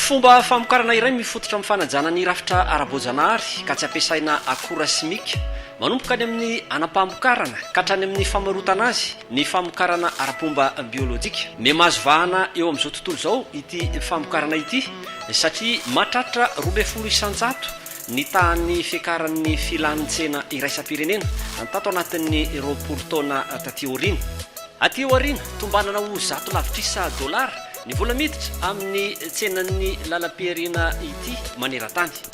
Fomba famokarana iray mifototra amin'ny fanajana ny rafitra ara-boajanahary ka tsy ampiasaina akora simika. Manomboka any amin'ny anam-pamokarana ka hatrany amin'ny famarotana azy ny famokarana ara-pomba biolojika. Mihamahazo vahana eo amin'izao tontolo izao ity famokarana ity. satria mahatratra roa ambin'ny folo isan-jato ny tahan'ny fiakaran'ny filan'ny tsena iraisam-pirenena tato anatin'ny roapolo taona taty aoriana. Aty aoriana, tombanana ho zato lavitrisa dolara ny vola miditra amin'ny tsenan'ny lalam-pihariana ity maneran-tany.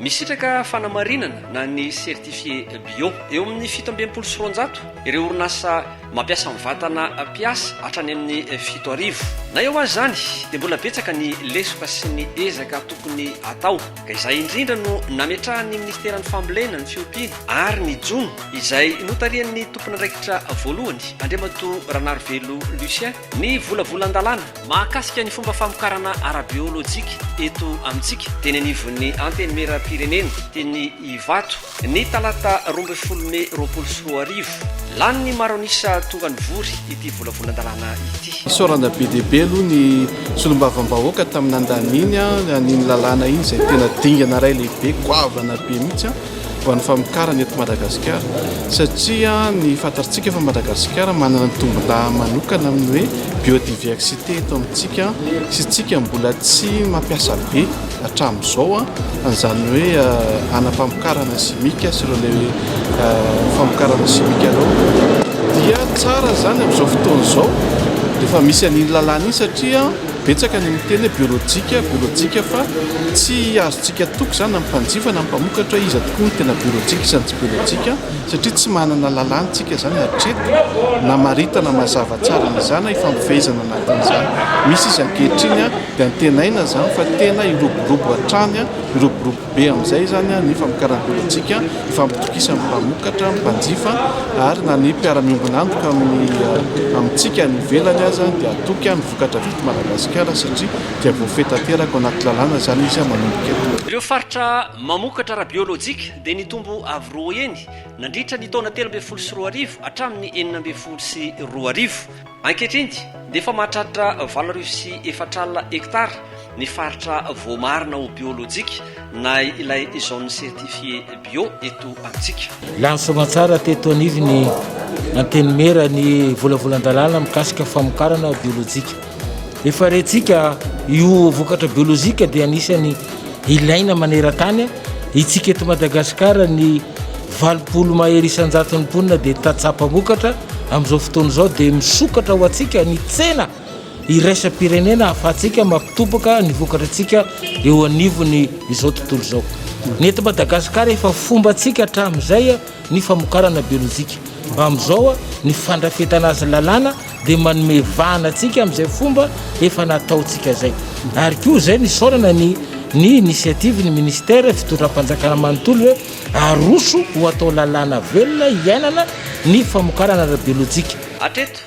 Misitraka fanamarinana na ny certifié bio. Eo amin'ny fito amby enimpolo sy roanjato ireo orinasa mampiasa ny vatana mpiasa hatrany amin'ny fito arivo. Na eo aza izany dia mbola betsaka ny lesoka sy ny ezaka tokony atao ka izay indrindra no nametrahan'ny Ministeran'ny Fambolena, ny Fiompiana ary ny Jono izay notarihan'ny Tompon'andraikitra voalohany Andriamatoa Ranarivelo Lucien ny volavolan-dalàna Mahakasika ny fomba famokarana ara-biolojika eto amintsika, teny anivon'ny Antenimierampirenena, teny Ivato, ny talata roa ambin'ny folo mey roapolo sy roa arivo. Lany ny maro an'isa tonga nivory ity volavolan-dalàna ity. Isaorana be dia be aloha ny solombavambahoaka tamin'ny nandaniny an'iny lalàna iny izay tena dingana iray lehibe, goavana be mihitsy. ho an'ny famokarana eto Madagasikara satria ny fantatsika fa Madagasikara manana ny tombon-daha manokana amin'ny hoe biodiversité eto amintsika sy tsika mbola tsy mampiasa be hatramin'izao an'izany hoe anam-pamokarana simika sy ireo le famokarana simika ireo dia tsara izany amin'izao fotoana izao rehefa misy an'iny lalàna iny satria Betsaka ny miteny hoe biolojika, biolojika fa tsy azontsika toky izany na ny mpanjifa na ny mpamokatra hoe iza tokoa no tena biolojika, iza no tsy biolojika satria tsy manana lalàna tsika izany hatreto namaritana mazava tsara an'izany na ifampifehezana anatin'izany. Misy izy ankehitriny dia antenaina izany fa tena hiroborobo hatrany, hiroborobo be amin'izay izany ny famokarana biolojika, ifampitokisan'ny mpamokatra, ny mpanjifa ary na ny mpiara-miombon'antoka amin'ny amintsika any ivelany aza dia hatoky. Vokatra vita Madagasikara satria dia voafehy tanteraka ao anaty lalàna izany izy manomboka eto. Ireo faritra mamokatra ara-biolojika dia nitombo avo roa heny nandritra ny taona telo ambin'ny folo sy roa arivo hatramin'ny enina ambin'ny folo sy roa arivo. Ankehitriny dia efa mahatratra valo arivo sy efatra alina hektara Ny faritra voamarina ho biolojika na ilay zone certifiée bio eto amintsika. Lany soamantsara teto anivon'ny Antenimiera ny volavolan-dalàna mikasika famokarana biolojika. Efa rentsika io vokatra biolojika dia anisan'ny ilaina maneran-tany. Itsika eto Madagasikara ny valopolo mahery isan-jaton'ny mponina dia tantsaha mpamokatra. Amin'izao fotoana izao dia misokatra ho antsika ny tsena. iraisam-pirenena ahafahantsika mampitobaka ny vokatr'antsika eo anivon'ny izao tontolo izao. Ny eto Madagasikara efa fombantsika hatramin'izay ny famokarana biolojika. Amin'izao ny fandrafetana azy lalàna dia manome vahana antsika amin'izay fomba efa nataontsika izay. Ary koa izay nisaonana ny ny initiative-n'ny Ministère fitondram-panjakana manontolo hoe aroso ho atao lalàna velona hiainana ny famokarana ara-biolojika. Hatreto,